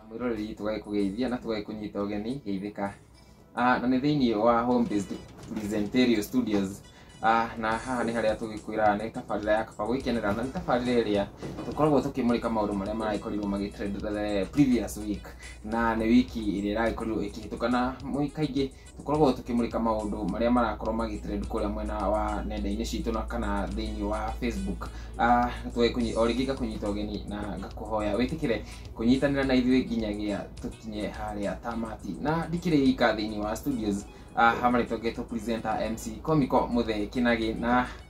mwĩroreri tũgagĩkũgeithia na tũgagĩkũnyita ũgeni geithĩka Ah, na nĩ thĩinĩ wa home based presenterio studios Ah, na haha nĩ harĩa tũgĩkwĩraga nĩ tabarĩra ya kaba gwĩkenera na nĩ tabarĩra ĩrĩa tũkoragwo tũkĩmũrĩka maũndũ marĩa maragĩkorirwo magĩtrend the previous week na nĩ wiki ĩrĩa ĩragĩkorirwo ĩkĩhĩtũka na mũi- kaingĩ tũkoragwo tũkĩmũrĩka maũndũ marĩa marakorwo magitrend kũrĩa mwena wa nenda-inĩ citũ na kana thĩinĩ wa facebook Ah, tũge kũnyi- o rĩngĩ ngakũnyita ũgeni na ngakũhoya wĩtĩkĩre kũnyitanĩra na ithuĩ nginyagia tũkinye harĩa tamati na ndikĩrĩ ika thĩinĩ wa studios Ah, hamarĩtwo ngetwo presenter mc comico mũthee kinagi na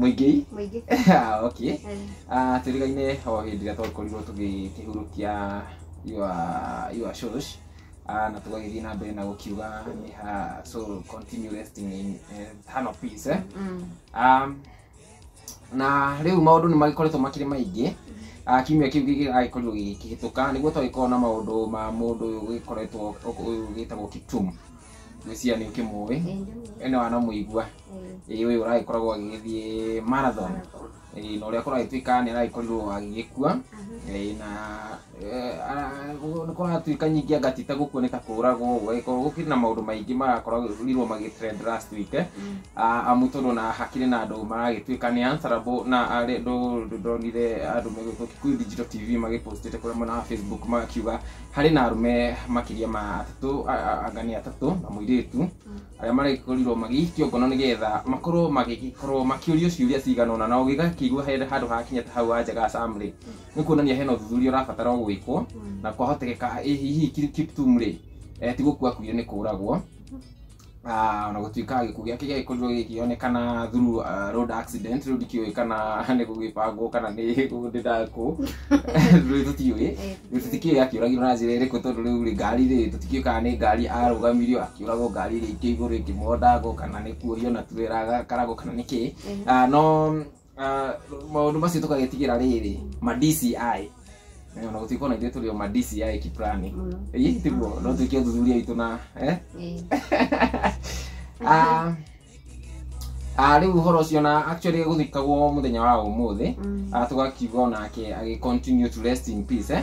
mũingĩ mũingĩ okay Eh, Ah, tũrigaine o hĩndĩ ĩrĩa twakorirwo tũgĩkĩhurũkia your your shows Ah, na tũgagĩthiĩ na mbere na gũkiuga nĩ ha so continue resting in eh, hand of peace eh? mm, um, na rĩu maũndũ nĩ magĩkoretwo makĩrĩ maingĩ Ah, kiumia kĩu gĩgĩgagĩkorirwo gĩkĩhĩtũka nĩguo twagĩkorwo na maũndũ ma mũndũ ũyũ ũgĩkoretwo ũyũ gĩtagwo kiptum ngwĩciria nĩ ũkĩmũĩ Ĩĩ, ndĩmũĩ. ene wana mũigua Ĩĩ. ĩĩ ũyũ ũragĩkoragwo agĩgĩthiĩ marathon ĩĩ na ũrĩa kũragĩtuĩka nĩ aragĩkorirwo agĩgĩkua ĩĩ na eh, ara- gũ- nĩ kũratuĩka nyingĩ anga ti ta gũkua nĩ ta kũragwo ũguo ĩkorwo gũkĩrĩ na maũndũ maingĩ marakorirwo magĩtrend last week eh, ah, amu tondũ na hakĩrĩ na andũ maragĩtuĩka nĩ answerable na arĩ andũ ndonire andũ megũtwo Kikuyu Digital TV magĩpostĩte kũrĩa mwena wa Facebook makiuga Harĩ na arũme makĩria ma atatũ, a- a- anga nĩ atatũ na mũirĩtu arĩa maragĩkorirwo magĩikio ngono nĩgetha makorwo magĩgĩkorwo makĩũrio ciũria cigana ũna na ũgĩgakĩigua he handũ hakinya ta hau anja ga Sam rĩ nĩ kuonania hena ũthuthuria ũrabatara o gwĩkwo na kwahotekeka ĩ hihi Kip- Kiptum rĩ eh, ti gũkua akuire nĩ kũragwo Ah, ona gũtuĩka gĩkuũ gĩake gĩagĩkorirwo gĩkĩonekana through uh, road accident rĩu ndikĩũĩ kana nĩ gũgĩbangwo kana nĩ gũndĩnda kũ rĩu tũtiũĩ Eh, rĩu tũtikĩũĩ akĩũragirwo na njĩra ĩrĩkũ tondũ rĩu rĩ ngari rĩ tũtikĩũĩ kana nĩ ngari arũgamirio akĩũragwo ngari ĩrĩa ikĩ igũrũ ĩkĩmondango kana nĩ kuorio na turera agakarago kana nĩ kĩĩ Eh. Ah, no Ah, maundu macio tukagetigira riri ma DCI Eh, ona gutikwo na ithuĩ tũrĩ o ma DCI kiplani Mũno. ĩĩ tiguo no twĩke ũthuthuria witũ na eh? Eh, Ah, ah, rĩu ũhoro ũcio na actually gũthikagwo mũthenya wa ũmũthĩ mm, Ah, tũgakiuga onake agĩ continue to rest in peace eh?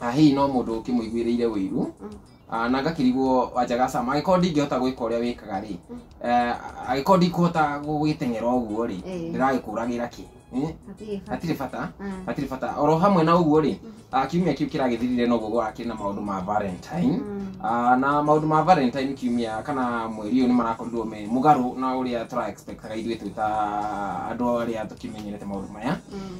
na hihi no mũndũ ũkĩmũiguĩrĩire ũiru Ah, na ngakĩrigwo wanja gacama agĩkorwo ndingĩhota gwĩka ũrĩa wĩkaga rĩ eh, agĩkorwo ndikũhota gũgĩteng'era ũguo rĩ Eh. ndĩragĩkũragĩra kĩ Eh, Hatirĩ bata. hatirĩ bata Ah. hatirĩ bata oro hamwe na ũguo rĩ ah, kiumia kĩu kĩragĩthirire noguo gũrakĩrĩ na maũndũ ma valentine Mm. Ah, na maũndũ ma valentine kiumia kana mweri ũyũ nĩ marakorirwo me mũgarũ na ũrĩa tũra expectaga ithuĩ twĩ ta andũ arĩa tũkĩmenyerete maũndũ maya Mm.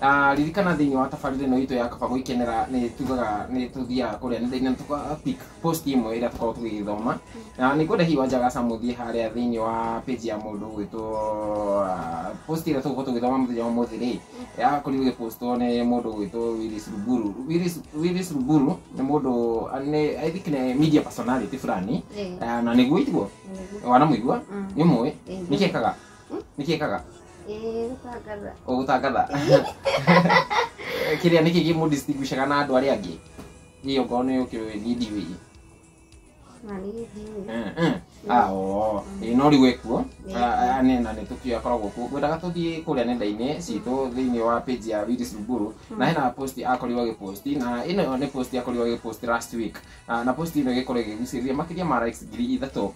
Ah, ririkana thĩinĩ wa tabarĩra ĩno itũ ya kaba gwĩkenera nĩ tugaga nĩ tũthiaga kũrĩa nenda-inĩ na tũka pick post ĩmwe ĩrĩa tũkoragwo tũgĩgĩthoma na nĩ ngwenda hihi wanja gaca mũthiĩ harĩa thĩinĩ wa page ya mũndũ ũgwĩtwo ah, post ĩrĩa tũgũkorwo tũgĩthoma mũthenya wa ũmũthĩ rĩ yakorirwo ĩgĩpostwo nĩ mũndũ ũgwĩtwo Willis Ruburu Willis- Willis Ruburu nĩ mũndũ ah, nĩ I think nĩ media personality fulani Eh. Ah, na nĩguo itiguo wanamũigua Mm. nĩ mũĩ Ĩĩ. nĩkĩekaga nĩkĩekaga Eh, gũtangatha. ũgũtangatha kĩrĩa nĩkĩ gĩmũdistinguishaga na andũ arĩa angĩ hiyo ngoro nĩ ũkĩũĩ niĩ ndiũĩ Na nĩ ndiũĩ. Eh, eh. Ah, oo. Ĩ, no rĩu ekuo Nĩ Ah, ah, nĩ- na nĩ tũkio akoragwo kuo ngwendaga tũthiĩ kũrĩa nenda-inĩ citũ thĩinĩ wa page ya Willis Ruburu na hena post akorirwo agĩposti na ĩno nĩ post akorirwo agĩposti last week Ah, na post ĩno ĩgĩkorwo ĩgĩgucĩrĩria makĩria ma likes ngiri ithatũ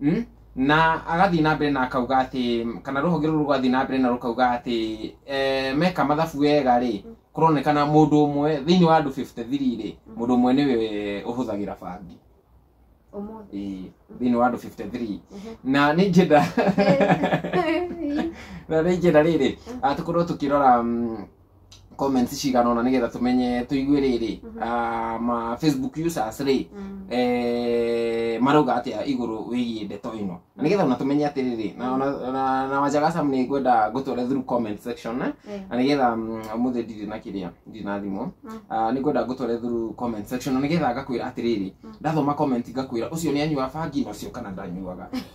Mm? na agathiĩ na mbere na akauga atĩ kana rũhonge rũrũ rũgathiĩ na mbere na rũkauga atĩ eh, meka mathabu wega rĩ kũronekana mũndũ ũmwe thĩinĩ wa andũ 53 rĩ mũndũ ũmwe nĩwe ũhũthagĩra bangi Ũmũthĩ. Ĩĩ, thĩinĩ wa andũ 53 na nĩ njenda na nĩ njenda rĩrĩ ah, tũkorwo tũkĩrora mm, comments cigana ona nigetha tumenye tuigue riri ah, ma facebook users ri eh, marauga atia iguru wigie ndeto ino na nigetha ona tumenye atiriri na ona na- na wanjaga sam ni ngwenda ngutware through comment section eh? Eh. na nigetha muthi ndiri na kiria ndiri na thimu Mm. Ah, ni ngwenda ngutware through comment section na nigetha ngakwira atiriri ndathoma comment ngakwira ucio ni anyua bangi na ucio kana ndanyuaga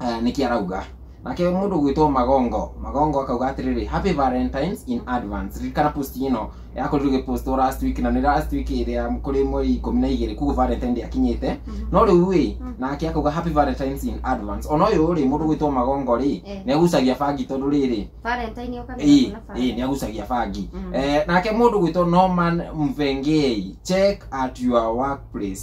eh, nĩkĩ arauga nake mũndũ gwĩtwo magongo magongo akauga atĩrĩrĩ happy valentines in advance ririkana post ĩno yakorirwo gĩpostwo last week na nĩ last week ĩrĩa kũrĩ mweri ikũmi na igĩrĩ kuguo valentine ndĩakinyĩte no rĩu rĩ nake akauga happy valentines in advance ona ũyũ rĩ mũndũ gwĩtwo magongo rĩ Eh. nĩ agucagia bangi tondũ rĩrĩ valentine yoka nĩ ĩĩ hakuna ĩĩ, nĩ valentine. agucagia bangi Mm. Eh, nake mũndũ gwĩtwo norman mvengei check at your workplace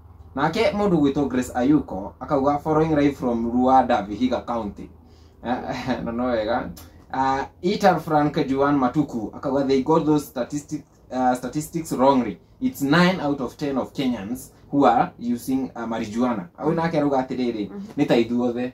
nake mũndũ gwĩtwo Grace Ayuko akauga following live from Luanda Vihiga County Eh, na no wega uh, Itar Frank Juan Matuku akauga they got those statistics, uh, statistics wrongly it's 9 out of 10 of Kenyans who are using uh, marijuana au nake arauga atĩrĩrĩ nĩ ta ithuothe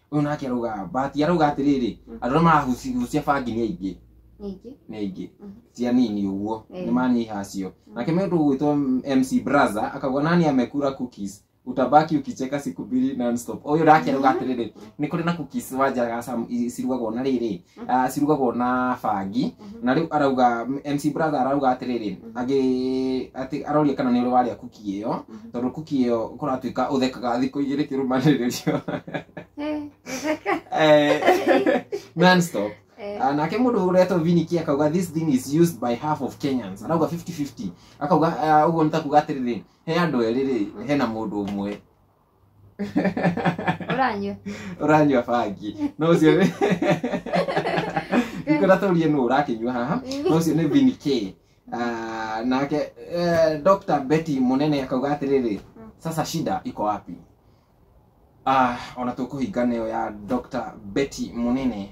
Ũyũ nake arauga mbati arauga atĩrĩrĩ Mm. andũ arĩa marahucia bangi nĩ aingĩ Ningĩ. nĩ aingĩ Mhm. ti anini ũguo Eh. nĩ manyiha acio nake mĩndũ gwĩtwo MC Braza akauga nani amekura cookies utabaki ukicheka siku mbili non stop ũyũ nake arauga atĩrĩrĩ nĩ kũrĩ na cookies wanjaga sam- i- cirugagwo na rĩrĩ Ah, cirugagwo na bangi na rĩu arauga MC brother arauga atĩrĩrĩ agĩ atĩ aroria kana nĩ ũrĩ warĩa kuki ĩyo tondũ kuki ĩyo kũratuĩka ũthekaga thikũ igĩrĩ kĩrũmanĩrĩrio Eh, gũtheka. Eh, non-stop Eh, Ah, nake mũndũ ũretwo viniki akauga this thing is used by half of kenyans arauga 50-50 akauga ah, ũguo nĩ ta kuga atĩrĩrĩ he andũ erĩ rĩ hena mũndũ ũmwe ũranyua ũranyua bangi no ũcio nĩ ngĩkora tũrie nũ ũrakĩnyua haha no ũcio nĩ Vin K Ah, nake eh, Dr. Betty Munene akauga atĩrĩrĩ Mm. sasa shida iko wapi Ah, ona tũkũhinga neo ya Dr. Betty Munene